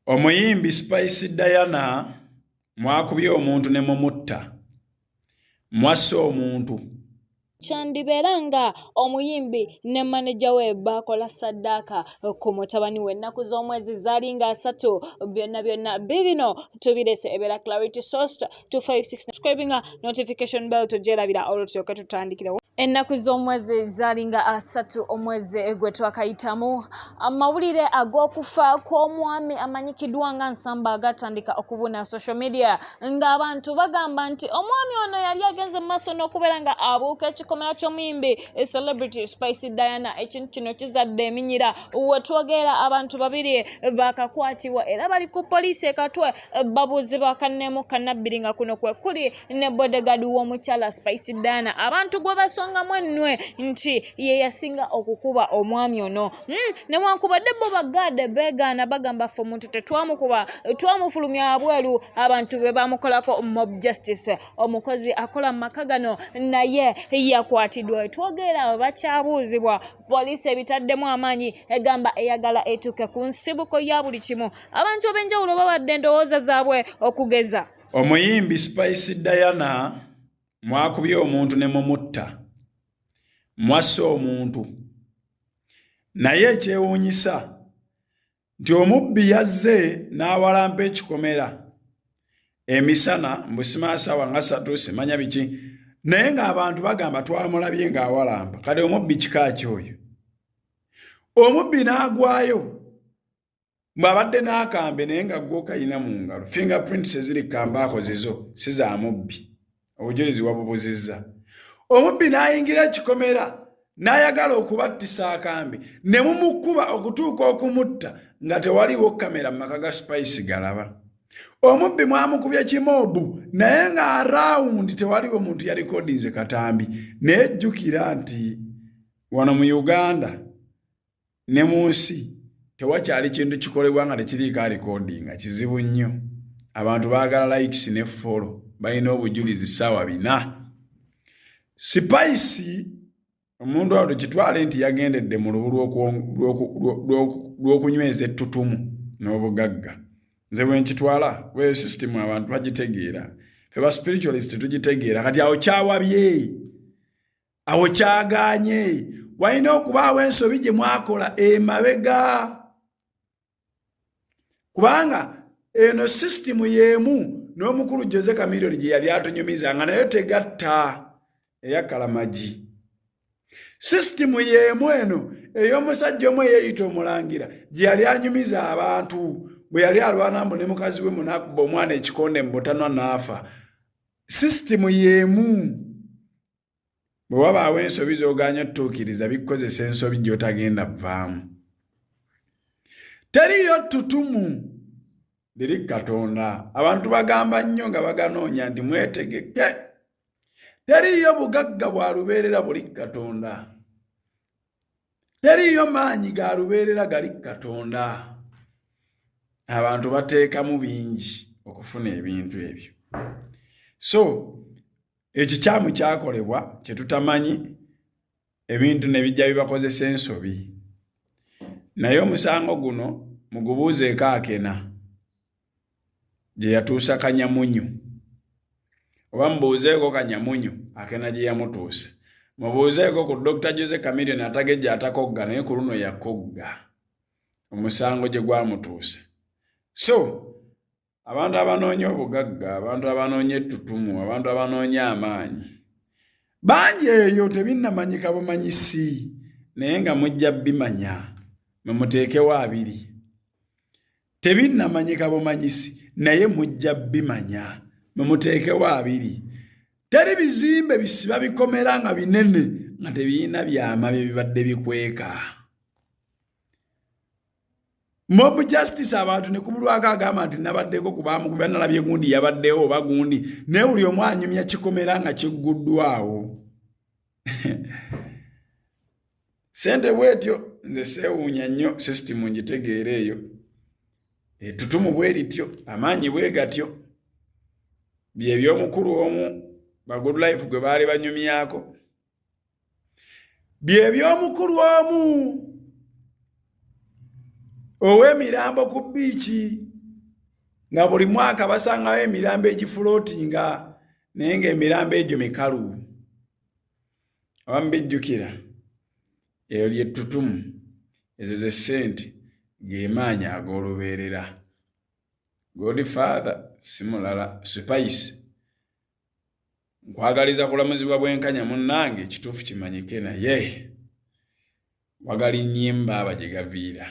Omuyimbi Spice Diana mwakubye omuntu ne mumutta. Mwassa omuntu. kyandibeera nga omuyimbi ne maneja we baakola saddaaka ku mutabani we ennaku z'omwezi zaali nga asatu byonna byonna bibino tubirese ebeera clarity sosta 256 subscribing notification bell tojelabira olwo tuyoke tutandikirewo ennaku z'omwezi zalinga asatu omwezi gwe twakayitamu amawulire ag'okufa kw'omwami amanyikiddwa nga nsamba agatandika okubuna social media ng'abantu bagamba nti omwami ono yali agenze mu maaso n'okubeera nga abuuka ekikomera ky'omuyimbi celebrity spice diana ekintu kino kizadde eminyira wetwogeera abantu babiri bakakwatibwa era bali ku poliisi ekatwe babuuzi ba kanneemu kannabbiri nga kuno kwe kuli ne bodegadi w'omukyala spice dana abantu gwe basongamu ennwe nti ye yasinga okukuba omwami ono hmm, newankubadde bo bagaade beegaana bagamba fe omuntu tetwamukuba twamufulumya abweru abantu be bamukolako mob justice omukozi akola mu maka gano naye yakwatidwa wetwogeera bakyabuuzibwa poliisi ebitaddemu amaanyi egamba eyagala etuuke ku nsibuko ya buli kimu abantu ab'enjawulo bawadde endowooza zaabwe okugeza omuyimbi spice diana mwakubye omuntu ne mumutta mwassa omuntu naye ekyewuunyisa nti omubbi yazze n'awalampa ekikomera emisana mbusimaasawa nga satu simanya biki naye ng'abantu bagamba twamulabye ng'awalampa kati omubbi kika ki oyo omubbi n'agwayo ng'abadde n'akambe naye nga gwoka yina mu ngalo fingerprints eziri kambaako zizo si za mubbi obujulizi wabubuzizza omubbi n'ayingira ekikomera n'ayagala okubattisa akambe ne mumukuba okutuuka okumutta nga tewaliwo kamera mu maka ga spice galaba omubbi mwamukubye kimoobu naye nga arawundi tewaliwo muntu yalikodinze katambi naye jjukira nti wano mu uganda ne mu nsi tewakyali kintu kikolebwa nga tekiriiko alikodinga kizibu nnyo abantu baagala likes ne folo balina obujulizi ssaawa bina sipayisi omuntu awo tukitwale nti yagendedde mu lubu lw'okunyweza ettutumu n'obugagga nze bwe nkitwala weyo sisitimu abantu bagitegeera fe ba spiritualist tugitegeera kati awo kyawabye awo kyagaanye walina okubaawo ensobi gye mwakola emabega kubanga eno sisitimu y'emu n'omukulu jose kamiliyoni gye yali atunyumiza nga nayo tegatta eyakalamagi sisitimu y'emu eno ey'omusajja omu eyeeyita omulangira gye yali anyumiza abantu bwe yali alwana mbu ne mukazi we munakuba omwana ekikonde mu butanwa n'afa sisitimu y'emu bwe wabaawo ensobi z'ogaanya tutuukiriza bikukozesa ensobi gy'otagenda vaamu teriyo ttutumu liri katonda abantu bagamba nnyo nga baganoonya nti mwetegeke teriyo bugagga bwa lubeerera buli katonda teriyo maanyi ga lubeerera gali katonda abantu bateekamu bingi okufuna ebintu ebyo so ekikyamu kyakolebwa kyetutamanyi ebintu nebijja bibakozesa ensobi naye omusango guno mugubuuzeeko akena gyeyatuusa kanyamunyu oba mubuuzeeko kanyamunyu akena gyeyamutuusa mubuuzeeko ku dr jose camilion atagejja atakogga naye ku luno yakogga omusango gye gwamutuusa so abantu abanoonya obugagga abantu abanoonya ettutumu abantu abanoonya amaanyi bangi eyo tebinnamanyika bumanyisi naye nga mujja bimanya mumuteekewo abiri tebinnamanyika bumanyisi naye mujja bimanya mumuteekewo abiri teri bizimbe bisiba bikomera nga binene nga tebirina byama bye bibadde bikweka mob justice abantu ne kubulwako agamba nti nabaddeko ku bamukubi analabye gundi yabaddewo oba gundi naye buli omu anyumya kikomera nga kigguddwawo sente bwetyo nze seewuunya nnyo sisitimu ngitegeera eyo etutumu bwe lityo amaanyi bwe gatyo byebyomukulu omu bagudlife gwe baali banyumyako bye by'omukulu omu ow'emirambo ku bbiiki nga buli mwaka basangawo emirambo egifulootinga naye ng'emirambo egyo mikalu abamu bijjukira eyo lyettutumu ezo ze ssente gemaanyi ag'olubeerera godfather simulala spice nkwagaliza kulamuzibwa bwenkanya munnange ekituufu kimanyike naye wagala ennyimba aba gye gaviira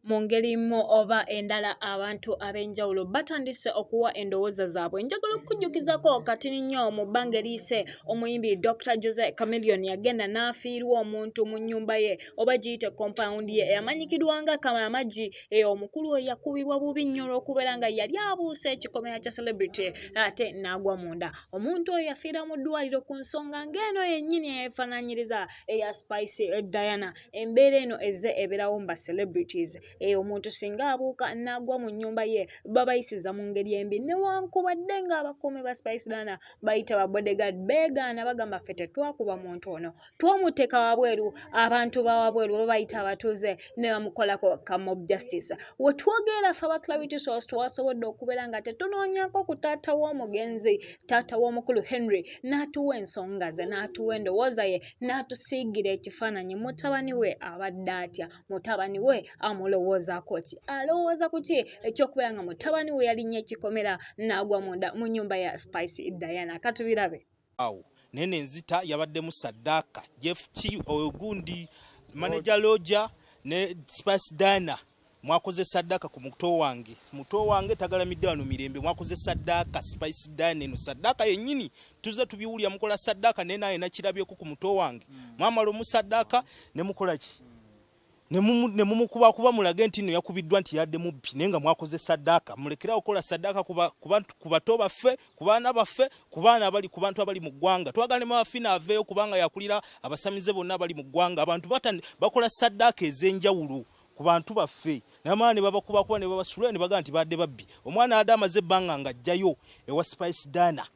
mu ngeri mu oba endala abantu ab'enjawulo batandise okuwa endowooza zaabwe njagala okukujjukizako kati nnyo mu bbanga eriyise omuyimbi dr jose camilion yagenda n'afiirwa omuntu mu nnyumba ye oba giyite compound ye eyamanyikirwanga kalamagi eh, omukulu oyo yakubibwa bubi nnyo olw'okubeera nga yali abuuse ekikomera kya celebrity ate n'agwa munda omuntu oyo yafiira mu ddwaliro ku nsonga ng'eno yennyini eyeefaananyiriza eya spice eh, diana embeera eno ezze ebeerawo mu ba celebrities eh, omuntu singa abuuka n'agwa mu nnyumba ye babayisiza mu ngeri embi newankubadde ng'abakuumi ba spice diana bayita ba bodyguard beegaana bagamba ffe tetwakuba muntu ono twamuteeka wabweru abantu bawabweru oba bayita abatuuze ne bamukolako ka mob justice we twogeera fe abaclarity source twasobodde okubeera nga tetunoonyako ku taata w'omugenzi taata w'omukulu henry n'atuwa ensonga ze n'atuwa endowooza ye n'atusiigira ekifaananyi mutabani we abadde atya mutabani we amulowoozaako ki alowooza ku ki ekyokubeera nga mutabani we yalinnya ekikomera n'agwa munda mu nyumba ya spice diana katubirabe Awo naye nenzita yabaddemu Sadaka Jeff Ki ogundi manager Loja ne Spice Dana mwakoze sadaka ku muto wange muto wange tagalamidde wano mirembe mwakoze sadaka spice dine no sadaka yenyini tuze tubiwulya mukola sadaka naye naye nakirabyeko ku muto wange mm. mwamala omusadaka ne mukola ki mm. ne mumukuba kuba mulage nti no yakubiddwa nti yadde mubbi naye nga mwakoze saddaaka mulekera okukola saddaaka ku bato baffe ku baana baffe ku baana abali ku bantu abali mu ggwanga twagala ne mawafina aveeyo kubanga yakulira abasamize bonna abali mu ggwanga abantu bakola saddaaka ez'enjawulo ku bantu baffe namala ne babakubakuba ne babasula ne bagamba nti badde babbi omwana adde amaze ebbanga ng'ajjayo ewa spice dana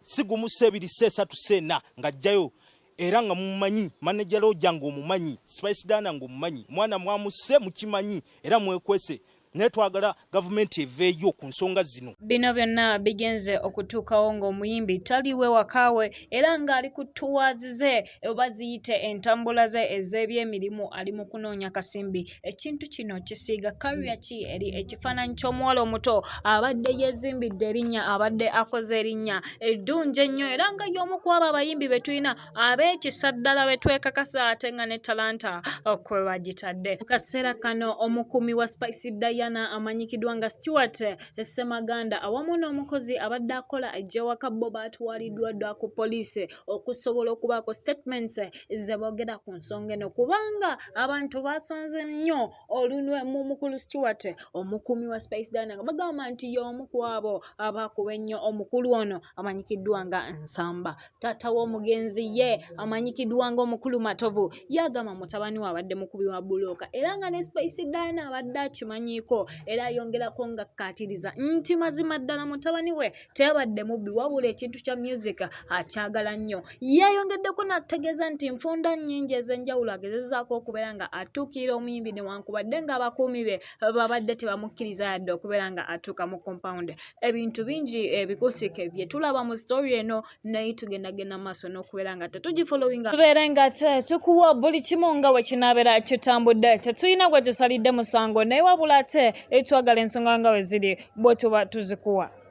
si gumu si ebiri si esatu si ena ng'ajjayo era nga mumumanyi manager loja nga omumanyi spice dana nga omumanyi mwana mwamuse mukimanyi era mwekwese naye twagala gavumenti eveeyo ku nsonga zino bino byonna bigenze okutuukawo ng'omuyimbi taliwe wakaawe era ng'ali ku tuwazi ze oba ziyite entambula ze ez'ebyemirimu ali mu kunoonya kasimbi ekintu kino kisiiga kalya ki eri ekifaananyi ky'omuwala omuto abadde yeezimbidde erinnya abadde akoze erinnya eddungi ennyo era nga y'omu ku abo abayimbi be tulina ab'ekisa ddala be twekakasa ate nga ne talanta kwe bagitadde mu kaseera kano omukuumi wa spice diana amanyikiddwa nga stewart ssemaganda awamu n'omukozi abadde akola egyewaka bo baatwaliddwa dda ku poliisi okusobola okubaako statements zebogera ku nsonga eno kubanga abantu basonze nnyo olunwe mu mukulu stewart omukuumi wa spice dina nga bagamba nti y'omu kwabo abaakuba ennyo omukulu ono amanyikiddwa nga nsamba taata w'omugenzi ye amanyikiddwa nga omukulu matovu yagamba mutabani we abadde mukubi wa bulooka era nga ne spice dina abadde akimanyiiko era ayongerako nga kkaatiriza nti mazima ddala mutabani we teyabadde mubbi wabula ekintu kya music akyagala nnyo yeeyongeddeko n'atutegeeza nti nfunda nnyingi ez'enjawulo agezezaako okubeera nga atuukirira omuyimbi newankubadde ng'abakuumi be babadde tebamukkiriza yadde okubeera nga atuuka mu compound ebintu bingi ebikusike eh, bye tulaba mu story eno naye tugendagenda maaso n'okubeera nga tetugifolowinga tubeere nga tukuwa buli kimu nga we kinaabeera kitambudde tetulina gwe tusalidde musango naye wabula ate etwagala eh, ensonga nga we ziri bwe tuba tuzikuwa